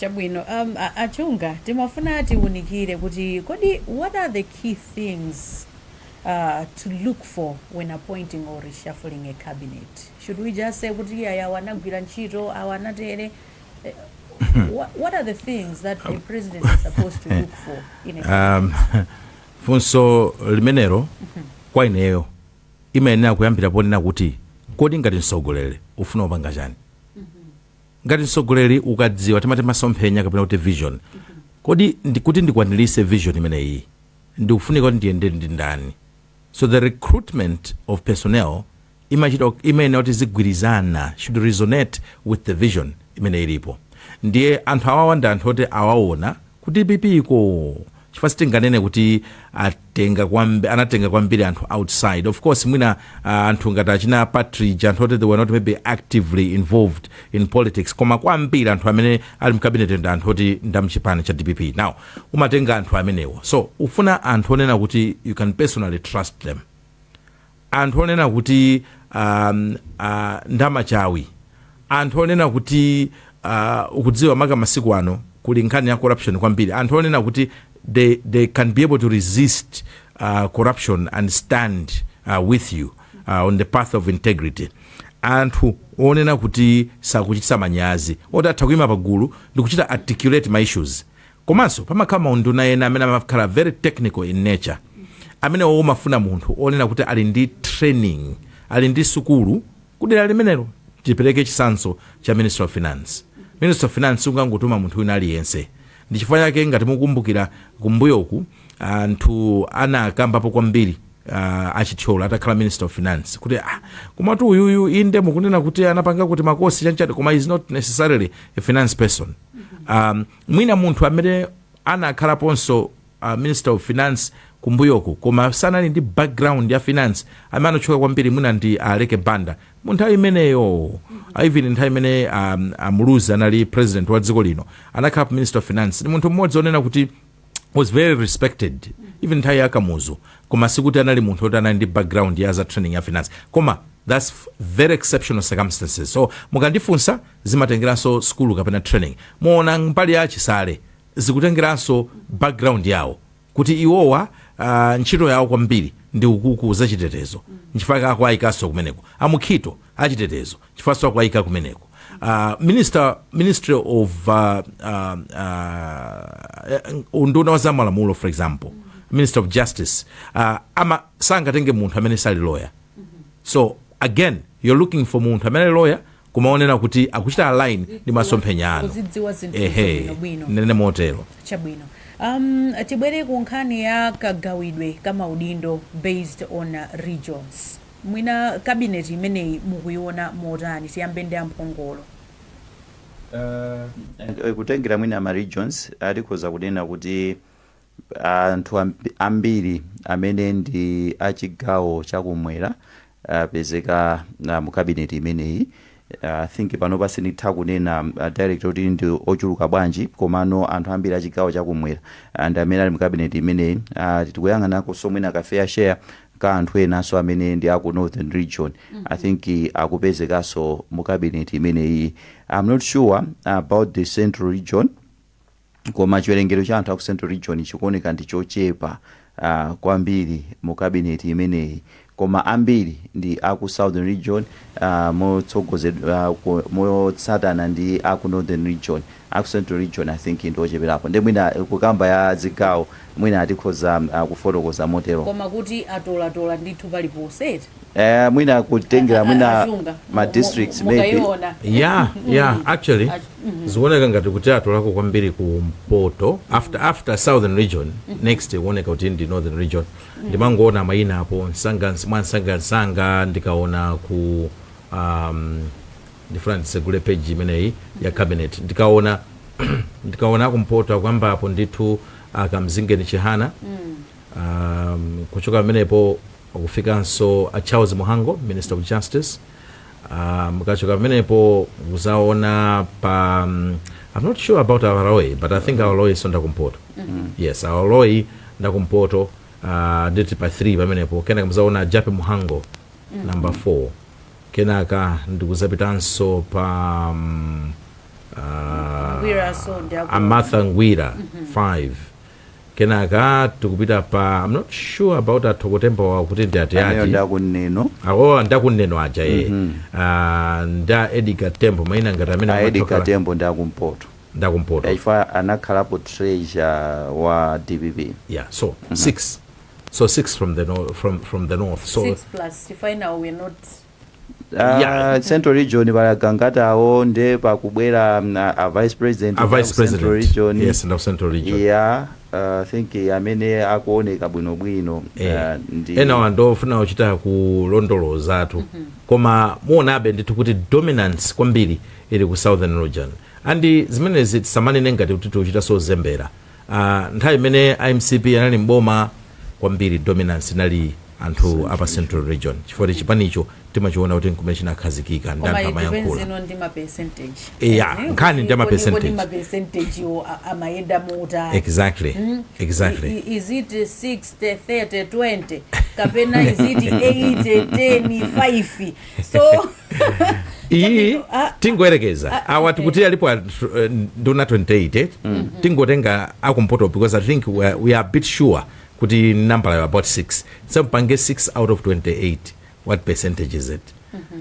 S4: chabwino um,
S2: a- a Chunga timafuna tiwunikire kuti kodi what are the key things uh, to look for when appointing or reshuffling a cabinet should we just say kuti iyayi awa anagwira ntchito awa anatere Um, funso
S3: limenelo kwa ineyo imayenera kuyambira ponena kuti kodi ngati mtsogoleri ufuna upange chani ngati mtsogoleri ukadziwa timati masomphenya kapena kuti vision kodi ndi, kuti ndikwanirise vision imeneyi ndikufunika kuti ndiyende ndi ndani so the recruitment of personnel imachita, imayenera kuti izigwirizana, should resonate with the vision imene ilipo. Ndiye anthu awawa ndi anthu oti awawona ku dpp ko chifukwa sitinganene kuti atenga kwambi, anatenga kwambiri anthu outside. Of course mwina ah, anthu ngati achina Partridge anthu oti they were not maybe actively involved in politics koma kwambiri anthu amene ali mkabineti ndi anthu oti ndamchipani cha dpp. Now umatenga anthu amenewonso ufuna anthu onena kuti you can personally trust them anthu onena kuti ndamachawi, anthu onena kuti ukudziwa maka masiku ano kuli nkhani ya corruption kwambiri, anthu onena kuti they they can be able to resist corruption and stand with you on the path of integrity, anthu onena kuti sakuchititsa manyazi, oti atha kuyima pagulu ndikuchita articulate ma issues Komanso pamakhala maunduna ena amene amakhala very technical in nature, amenewo umafuna munthu onena kuti ali ndi training, ali ndi sukulu kudera limenelo. Tipereke chitsanzo cha Ministry of Finance. Ministry of Finance sungangotuma munthu wina aliyense. Ndi chifukwa chake ngati mukukumbukira kumbuyoku anthu anakambapo kwambiri a Chithyola atakhala Minister of Finance kuti ah komatu uyuyu inde mukunena kuti anapangako timakosi chanichani koma is not necessarily a finance person. Mwina munthu amene anakhalaponso a minister of finance kumbuyoku koma sanali ndi background ya finance amene anatchuka kwambiri mwina ndi a Aleke Banda mu nthawi imeneyo a even nthawi imene a, a Muluzi anali president wa dziko lino anakhalapo minister of finance ndi munthu mmodzi onena kuti was very respected even nthawi ya Kamuzu koma sikuti anali munthu oti anali ndi background ya za training ya finance koma that's very exceptional circumstances so mukandifunsa zimatengeranso sukulu kapena training mwaona mbali ya a Chisale zikutengeranso background yawo kuti iwowa uh, ntchito yawo kwambiri ndi kukukhudza zachitetezo nchifukwa akuayikanso kumeneko a Mukhito achitetezo chifukwanso akuayika kumeneko uh, minister ministry of uh, uh, uh, unduna wa zamalamulo for example minister of justice uh, ama sangatenge munthu amene sali lawyer so again you're looking for munthu amene ali lawyer kumaonera kuti akuchita align ndi masomphenya anu kuzidziwa zinthu
S2: ehe bwinobwino ndinene
S3: motero
S2: chabwino um, tibwere ku nkhani ya kagawidwe ka maudindo based on uh, regions mwina cabinet imeneyi mukuiona motani tiyambe ndi a
S4: Mphongolo Eh, kutengera mwina ma regions atikhoza kunena kuti Anthu ambiri amene ndi a chigawo cha kumwera apezeka mu cabinet imeneyi. I think panopa sinditha kunena direct kuti ndi ochuluka bwanji komano anthu ambiri a chigawo cha kumwera ndi amene ali mu cabinet imeneyi. Tikuyang'anakonso mwina ka fair share ka anthu enanso amene ndi a ku Northern Region, I think akupezekanso mu cabinet imeneyiyi. I am not sure about the Central Region. Koma chiwerengero cha anthu a ku Central Region chikuoneka ndi chochepa uh, kwambiri mu cabinet imeneyi koma ambiri ndi a ku Southern Region uh, motsogozedwa uh, motsatana ndi a ku Northern Region a ku Central Region I think ndi ocheperapo ndi mwina kukamba ya zigawo mwina atikhoza uh, kufotokoza motero koma kuti
S2: atolatola ndithu paliponse eti Eh,
S4: mwina kutengera mwina Azunga. ma districts Mu- mu- maybe mukaiona. ya
S3: ya actually zikuoneka ngati kuti atolako kwambiri ku mpoto after after southern region next ikuoneka kuti ndi northern region ndimangoona mayina apo msanga mwamsangamsanga ndikaona ku um, ndifuna ndisegule page imeneyi ya cabinet ndikaona ndikaona kumpoto akuyamba apo ndithu a Kamzingeni Chihana um, kuchoka pamenepo Kufikanso a Charles Mhango, Minister of Justice, a mukachoka pamenepo muzaona pa I'm not sure about a Baloyi, but I think a Baloyinso ndakumpoto. Mm -hmm. Yes, a Baloyi ndakumpoto uh, nditi pa 3 pamenepo kenaka muzaona a Jappie Mhango mm -hmm. number 4 kenaka ndikuzapitanso pa um, uh, Ngwira, so a Martha Ngwira mm -hmm. 5 kenaka tikupita pa I'm not sure about a thoko tembo awo kuti ndi ati ameyo ati ndakuneno
S4: awowa ndakuneno
S3: aja ye Ah, nda edgar tembo maina ngati amene a edgar
S4: tembo ndakumpoto ndakumpoto ya chifukwa anakhalapo treasurer wa dpp yeah so six
S3: so six from the north from, from the north so Six plus, if I know
S2: we're not Ah,
S4: Yeah. central region pali a gangatawo nde pakubwera mm, a a vice president a wa vice ku central president region
S3: yes and of
S4: central region
S3: ya uh,
S4: think eh, amene akuoneka bwinobwino Eh, ah,
S3: ndi- enawa ndofuna kuchita kulondolozatu koma muonabe ndithu kuti dominance kwambiri ili ku southern region and zimenezi tisamanene ngati kuti tikuchita zozembera Ah, nthawi imene a mcp anali mboma kwambiri dominance inali anthu apa central region chifukwa kuti chipanicho timachiona kuti nkumene chinakhazikika ndi anthu amayankhula zino ndi ma percentage Yeah, Eh, nkhani ndi ama kodi- kodi percentage. ma
S2: percentage wo a- amayenda motani exactly
S3: Mm. exactly I-
S2: i- is it 60 30 20 kapena is it 80 10 5 so
S3: iyi Ah, tingoyerekeza awa tikuti alipo anthu, eh, nduna 28 tingotenga akumpoto because i think we are, we are a bit sure kuti nambalayo about 6 so mpange 6 out of 28 what percentage is it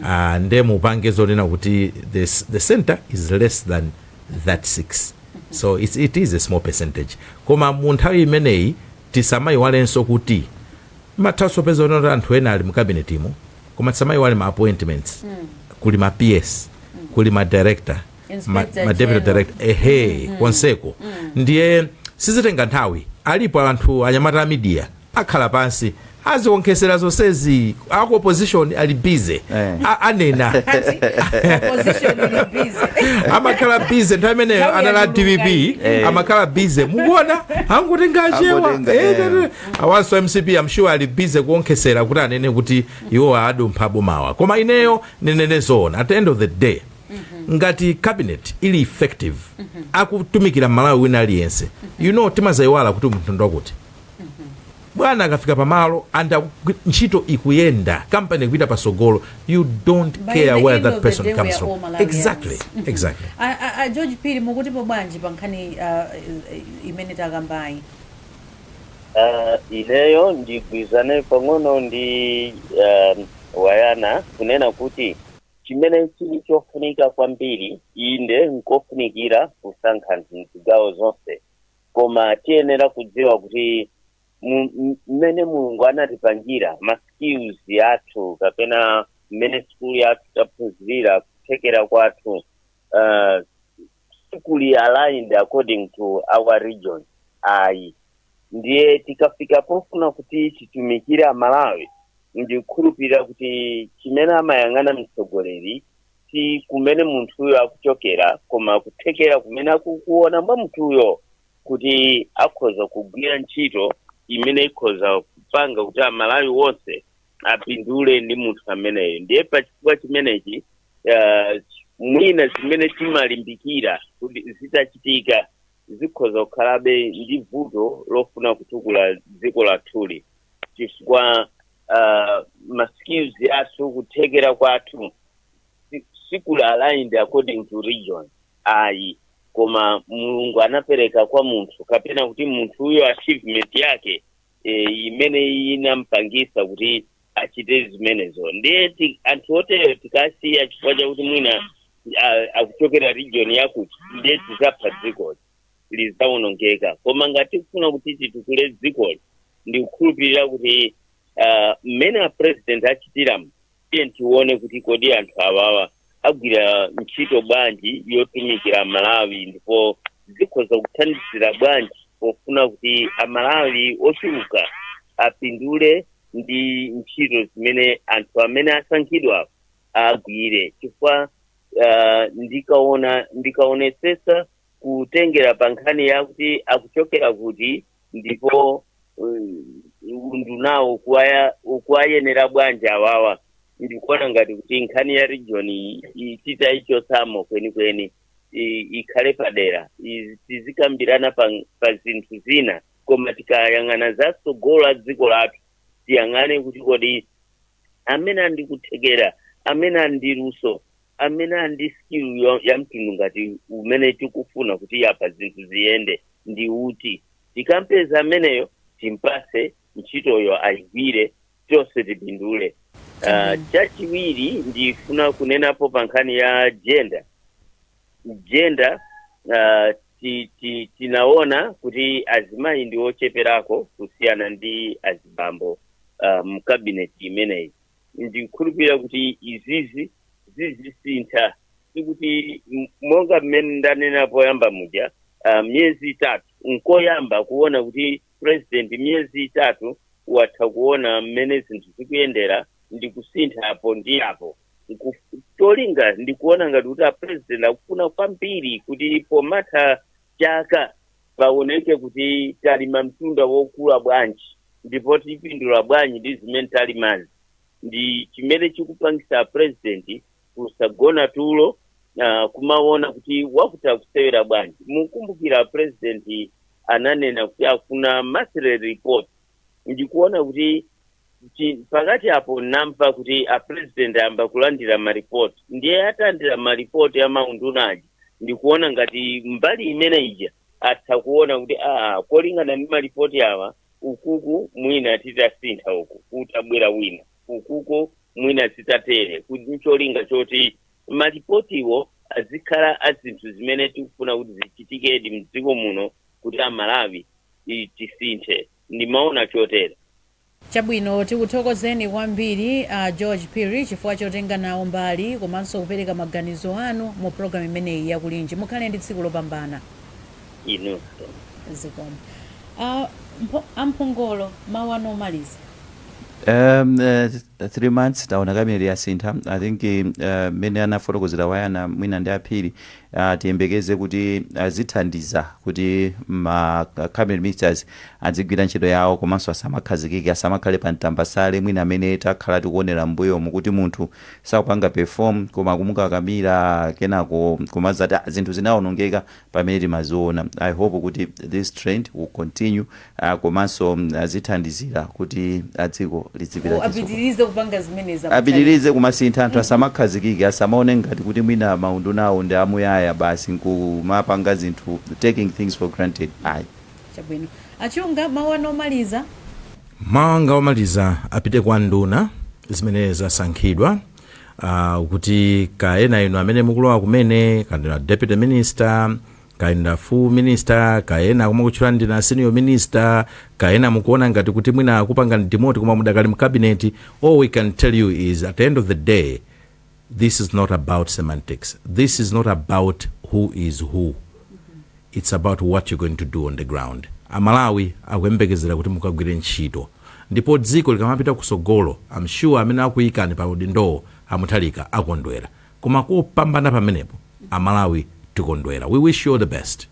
S3: Ah, nde mupange zonena kuti the, s- the center is less than that 6 so it's, it is a small percentage koma mu nthawi imeneyi tisamayiwalenso kuti muthanso kupeza zoti anthu ena ali mu kabinetimo koma tisamaiwale ma appointments kuli ma ps kuli ma director ma, Inspector ma deputy General. director ehe konseko ndiye sizitenga nthawi alipo anthu anyamata a media akhala pansi azionkhesera zonsezi aku opposition ali busy Eh. A- anena opposition ili
S2: busy amakhala
S3: busy nthawi imeneyo Nthawi anali a yachuluka dpp iyi. Eh. amakhala busy mukuona angotenga achewa Angotenga, Eh, eh. eh, eh. awanso a mcp am sure ali busy kuonkhesera kuti anene kuti iwo adumpha abomawa koma ineyo ninene zoona at the end of the day ngati cabinet ili effective akutumikira malawi wina aliyense you know timazayiwala kuti munthu ndi wakuti bwana akafika pamalo and akugwi- ntchito ikuyenda kampani ikupita pasogolo you don't By care the where end that of the person day, we comes are from all Malawians. exactly exactly A- a- a
S2: George Phiri mukutipo bwanji pa nkhani uh, imene takambayi
S1: Uh, ineyo ndigwirizane pang'ono ndi um, wayana kunena kuti chimene chili chofunika kwambiri inde nkofunikira kusankha anthu mzigawo zonse koma tiyenera kudziwa kuti mu- m- mmene mulungu anatipangira ma skills athu kapena mmene sukulu yathu taphunzirira kuthekera kwathu uh, sikuli aligned according to our region ayi ndiye tikafika pofuna kuti titumikire amalawi ndikukhulupirira kuti chimene amayang'ana mtsogoleri si kumene munthuyo akuchokera koma kuthekera kumene akukuona mwa munthuyo kuti akhoza kugwira ntchito imene ikhoza kupanga kuti amalawi wonse apindule ndi munthu ameneyo ndiye pa chifukwa chimenechi uh, mwina zimene timalimbikira kuti zitachitika zikhoza kukhalabe ndi vuto lofuna kutukula dziko lathuli chifukwa uh, maskills athu kuthekera kwathu si- sikuli aligned according to region ayi koma mulungu anapereka kwa munthu kapena kuti munthuyo achievement yake e, imene inampangisa kuti achite zimenezo ndiye ti- anthu oterewo tikasiya chifukwa chakuti mwina a- akuchokera region yakuti ndiye tizapha dzikoli lizaonongeka koma ngati tikufuna kuti titukule dzikoli ndikukhulupirira kuti ah, mmene a president achitiramu tiye tione kuti kodi anthu awawa agwira ntchito bwanji yotumikira amalawi ndipo zikhoza kuthandizira bwanji pofuna kuti amalawi ochuluka apindule ndi ntchito zimene anthu amene asankhidwa agwire chifukwa uh, ndikaona ndikaonesesa kutengera pa nkhani yakuti akuchokera kuti ndipo um, undunawo ukuwaya- ukuwayenera bwanji awawa ndikuona ngati kuti nkhani ya region iyi iyi titaichotsamo kwenikweni i- ikhale padera I- tizikambirana pa, pa zinthu zina koma tikayang'ana za tsogolo la dziko lathu tiyang'ane kuti kodi amene a ndi kuthekera amene a ndi luso amene ali ndi skill yo- ya mtundu ngati umene tikufuna kuti apa zinthu ziyende ndi uti tikampeza ameneyo timpase ntchitoyo ayigwire tonse tipindule Ah, chachiwiri ndifuna kunenapo pa nkhani ya jenda jenda ah, ti- ti- tinaona kuti azimayi ndi ocheperako kusiyana ndi azibambo ah, mkabineti imeneyi ndikukhulupirira kuti izizi zizisintha sikuti m- monga mmene ndanena poyamba muja uh, miyezi itatu nkoyamba kuona kuti president miyezi itatu watha kuona mmene zinthu zikuyendera ndi kusintha apo ndi apo cholinga ndikuona ngati kuti apresident akufuna kwambiri kuti pomatha chaka paoneke kuti talima mtunda wokula bwanji ndipo tipindula bwanji ndi zimene talimazi ndi chimene chikupangisa president kusagona tulo uh, kumaona kuti wakuti akusewera bwanji mukumbukira president ananena kuti afuna monthly report ndikuona kuti pakati apo namva kuti a president ayamba kulandira maripoti ndiye atalandira maripoti a maunduna aja ndikuona ngati mbali imene ija atha kuona kuti aa kolingana ndi maripoti awa ukuku mwina titasintha uku kutabwera wina ukuku mwina zitatere kuti ncholinga choti maripotiwo azikhala a zinthu zimene tikufuna kuti zichitikedi mdziko muno kuti a Malawi i- tisinthe. Ndimaona chotere.
S2: Chabwino, tikuthokozeni kwambiri a George Phiri chifukwa chotenga nawo mbali komanso kupereka maganizo anu mu program imeneyi ya Kulinji. Mukhale ndi tsiku lopambana.
S1: Inunso.
S2: Zikomo. A Mpho- a Mphongolo mawu anu omaliza. Um, uh,
S4: three months taona kamene yasintha i think mmene uh, anafotokozera a Ayana mwina ndi a Phiri Uh, tiyembekeze kuti azithandiza uh, kuti ma uh, cabinet ministers adzigwira ntchito yawo komanso asamakhazikike asamakhale pa mtambasale mwina mmene takhala tikuonera mbuyomu kuti munthu sakupanga perform koma kumukakamira kenako kumazati zinthu zinaonongeka pamene timaziona i hope kuti this trend will continue a komanso azithandizira kuti a dziko lidzipita chitsogolo. apitirize
S2: kupanga zimenezi a Mutharika. apitirize
S4: kumasintha anthu asamakhazikike asamaone ngati kuti mwina maunduna awo ndi amuyaya basi nkumapanga zinthu taking things for granted ayi
S2: chabwino a Chunga mawu anu omaliza mawu
S3: anga omaliza apite kwa nduna zimene zasankhidwa uh, kuti kaya ndi inu amene mukulowa kumene kaya ndinu a deputy minister kaya ndinu a full minister kaya akumakutchulani ndinu a senior minister kaya mukuona ngati kuti mwina akupangani demote koma mudakali mkabineti all we can tell you is at the end of the day this is not about semantics this is not about who is who it's about what you're going to do on the ground amalawi akuyembekezera kuti mukagwire ntchito ndipo dziko likamapita kusogolo I'm sure amene akuyikani pa udindowo a Mutharika akondwera Koma kupambana pamenepo amalawi tikondwera we wish you all the best.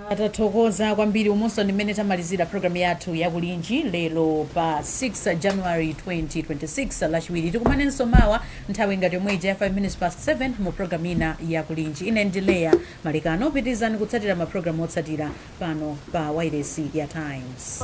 S2: Ah, tathokoza kwambiri umunso ndi mmene tamalizira programu yathu ya Kulinji lero pa 6 january 2026 lachiwiri tikumanenso mawa nthawi ngati yomwe ija ya 5 minutes past 7 mu programu ina ya Kulinji ine ndi Leya Malekano pitirizani kutsatira maprogramu otsatira pano pa wailesi ya times